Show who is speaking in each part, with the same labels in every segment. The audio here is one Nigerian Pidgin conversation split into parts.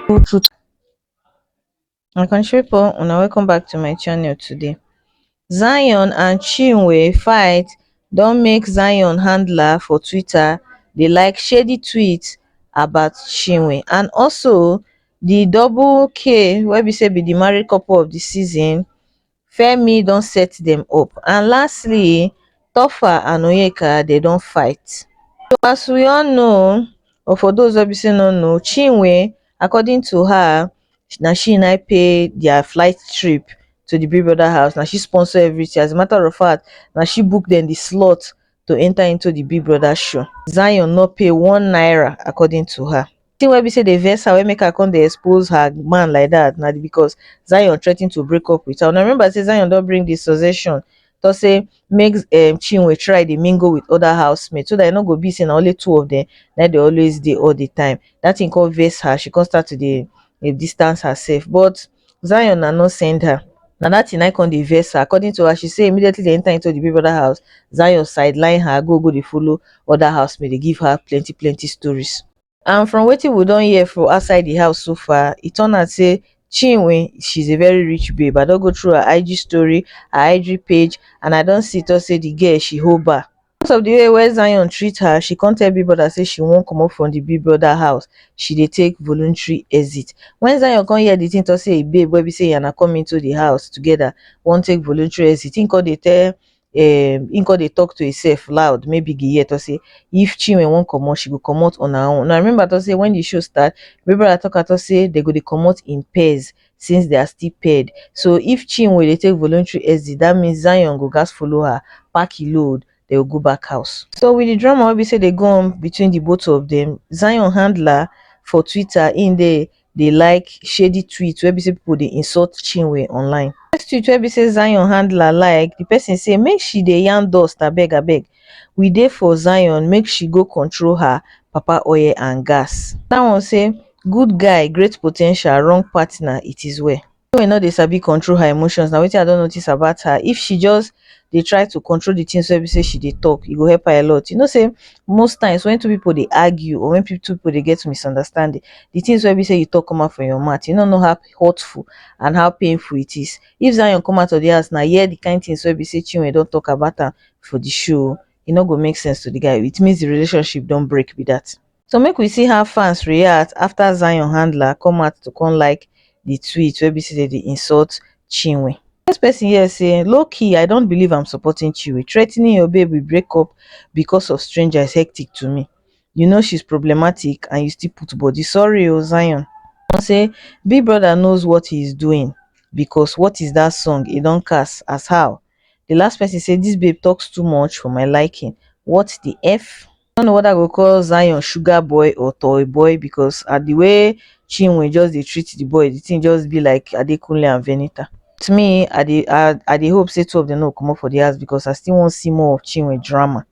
Speaker 1: people to my country people una welcome back to my channel today zion and chinwe fight don make zion handler for twitter dey like shady tweets about chinwe and also the double k wey be say be the married couple of the season femi don set dem up and lastly taoffa and onyeka dem don fight. So as we all know or for those wey be say no know chinwe according to her na she na pay their flight trip to the big brother house na she sponsor everything as a matter of fact na she book dem the slot to enter into the big brother show zion no pay one naira according to her the thing wey be say dey vex her wey make her come dey expose her man like that na because zion threaten to break up with her una remember say zion don bring the suggestion to say make um, chinwe try dey mingle with other housemates so that e no go be say na only two of them na dey always dey all the time that thing come vex her she come start to dey dey distance herself but Zion na no send her. Na that thing na come dey vex her. According to her, she say immediately they enter into the big brother house, Zion sideline her, go go dey follow other housemates, dey give her plenty plenty stories. And from wetin we don hear for outside the house so far, e turn out say Chinwe, she's a very rich babe. I don go through her IG story, her IG page, and I don see talk say the girl she hold bar. Because of the way wey Zion treat her, she come tell Big Brother say she wan comot from the Big Brother house. She dey take voluntary exit. When Zion come hear the thing talk say im babe wey be say he and her come into the house together wan take voluntary exit, im come dey tell um im come dey talk to himself loud make Biggie hear talk say if Chinwe wan comot, she go comot on her own. Una remember talk say when the show start, Big Brother talk am talk say they go dey comot in pairs since they are still paired so if Chinwe dey take voluntary exit that means Zion go gas follow her pack he load they will go back house. So with the drama wey be say dey go on between the both of them, Zion handler for Twitter in dey dey like shady tweets wey be say people dey insult Chinwe online. First tweet wey be say Zion handler like, the person say make she dey yarn dust abeg abeg we dey for zion make she go control her papa oil and gas. That one say good guy great po ten tial wrong partner it is well. Chinwe no dey sabi control her emotions na wetin I don notice about her if she just dey try to control the things wey be say she dey talk e go help her a lot you know say most times when two people dey argue or when pe- two people dey get misunderstanding the things wey be say you talk come out from your mouth you no know how hurtful and how painful it is if Zion come out of the house now hear the kind things wey be say Chinwe don talk about am for the show e no go make sense to the guy it means the relationship don break be that so make we see how fans react after zion handler come out to come like the tweet wey be say they dey insult chinwe This person here say low key i don't believe i'm supporting chinwe threatening your babe with breakup because of stranger is hectic to me you know she's problematic and you still put body sorry o zion One say big brother knows what he is doing because what is that song e don cast as how the last person say this babe talks too much for my liking what the f I don't know whether I go call Zion sugar boy or toy boy because at the way Chinwe just they treat the boy, the thing just be like Adekunle and Venita. To me, I dey I, I dey hope say two of them no come up for the house because I still want to see more of Chinwe drama.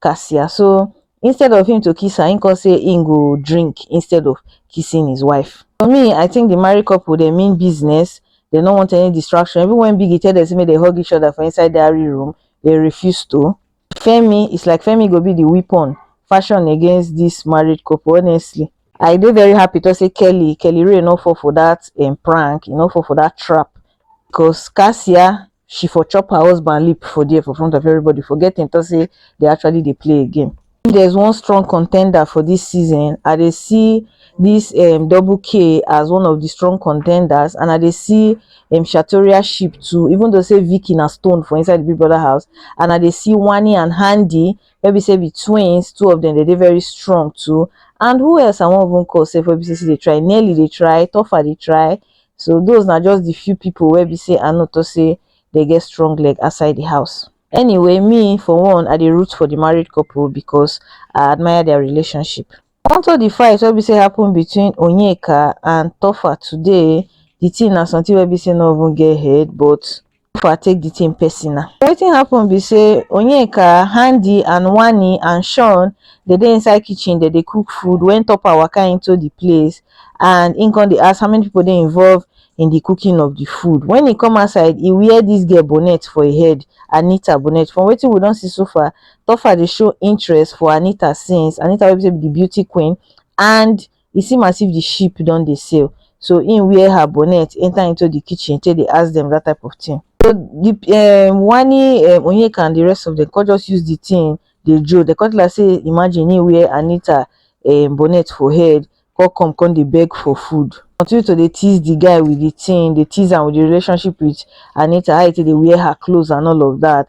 Speaker 1: Kasia so instead of him to kiss her, him come say him go drink instead of kissing his wife. For me, I think the married couple they mean business, they don't want any distraction. Even when Biggie tell them say make they hug each other for inside diary room, they refuse to. Femi, it's like Femi go be the weapon fashion against this married couple, honestly. I dey very happy to say Kelly, Kelly Ray no fall for that um, prank, e no fall for that trap. Because Cassia, she for chop her husband lip for there for front of everybody forgetting to say they actually they play a game if there's one strong contender for this season i they see this um, double k as one of the strong contenders and i they see um, shatoria ship too even though say vicky na stone for inside the big brother house and i they see wani and handy maybe say be twins two of them they they very strong too and who else i won't even call say for bcc they try nearly they try tougher they try So those na just the few people where be say I know to say they get strong leg outside the house. Anyway, me for one, I the root for the married couple because I admire their relationship. Onto the fight wey be say happen between Onyeka and Tofa today, the thing na something wey be say no even get head but Jennifer take the thing personal. Wetin happen be say Onyeka, Handy and Wani and Sean they dey inside kitchen they dey cook food when Topper waka into the place and him come dey ask how many people dey involved in the cooking of the food. When he come outside he wear this girl bonnet for him head Anita bonnet. From wetin we don see so far Topper dey show interest for Anita since Anita wey be say be the beauty queen and e seem as if the ship don dey sail. So im wear her bonnet enter into the kitchen take dey ask them that type of thing. So the um, Wani, um, Onyeka and the rest of them come just use the thing dey joke. They come tell her say imagine im wear Anita um, bonnet for head come come come dey beg for food. Continue to dey tease the guy with the thing, dey tease am with the relationship with Anita, how e take dey wear her clothes and all of that.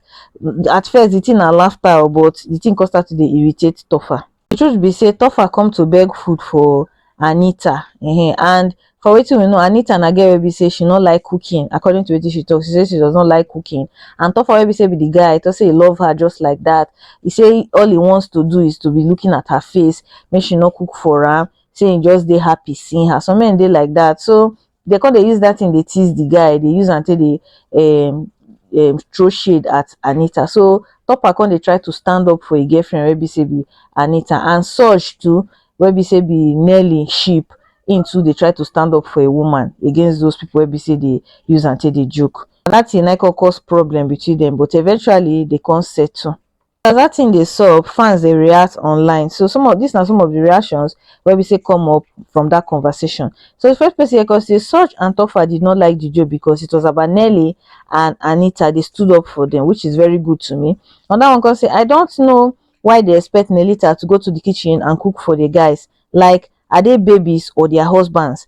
Speaker 1: At first the thing na laughter o but the thing come start to dey irritate Tofa. the truth be say topher come to beg food for anita um and for wetin we know anita na girl wey be say she no like cooking according to wetin she talk she say she does not like cooking and topher wey be say be the guy talk say he love her just like that he say all he wants to do is to be looking at her face make she no cook for am say he just dey happy seeing her some men dey like that so They come dey use that thing dey tease the guy, dey use am take dey um, um, throw shade at Anita. So Topper come dey try to stand up for a girlfriend wey be say be Anita and Surge too, wey be say be Nelly sheep. Him too dey try to stand up for a woman against those people wey be say dey use am take dey joke. And that thing na come cause problem between them, but eventually they come settle. As dat thing dey sup, fans dey react online so some of dis na some of di reactions wey be say come up from dat conversation. So di first person here come say Sooj and Tofa did not like di joke because it was about Nelly and Anita dey stood up for dem which is very good to me. Another one come say I don't know why dey expect Nelita to go to di kitchen and cook for di guys like are dey babies or their husbands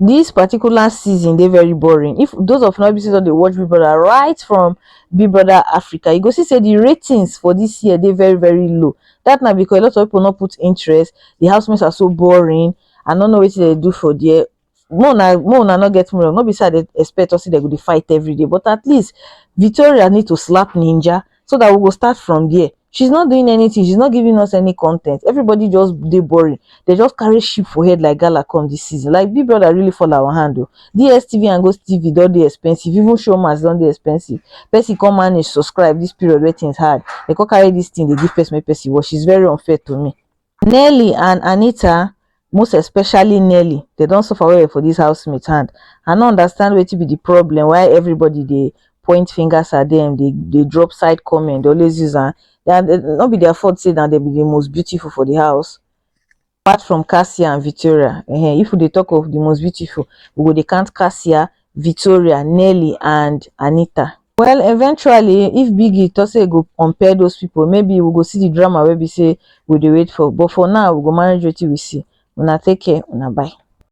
Speaker 1: This particular season dey very boring. If those of una be say don dey watch Big Brother right from Big Brother Africa, you go see say the ratings for this year dey very very low. That na because a lot of people no put interest. The housemates are so boring. I no know wetin dem do for there. Mo na mo na no get me wrong. No be say I dey expect us say dem go dey fight every day, but at least Victoria need to slap Ninja. so that we go start from there she's not doing anything she's not giving us any content everybody just they boring they just carry sheep for head like gala come this season like big brother really fall our hand though dstv and ghost tv don't they expensive even showmas don't they expensive person come manage subscribe this period where things hard they come carry this thing they give person make person watch it's very unfair to me Nelly and Anita most especially Nelly they don suffer well well for this housemate hand I no understand wetin be the problem why everybody dey point fingers at them they they drop side comment they always use am and eh, no be their fault say that they be the most beautiful for the house apart from Cassia and Victoria uh -huh. if we dey talk of the most beautiful we go dey count Cassia Victoria, Nelly and Anita. Well eventually if Biggie talk say he go compare those people maybe we go see the drama wey be say we dey wait for but for now we go manage wetin we see. Una take care, una bye.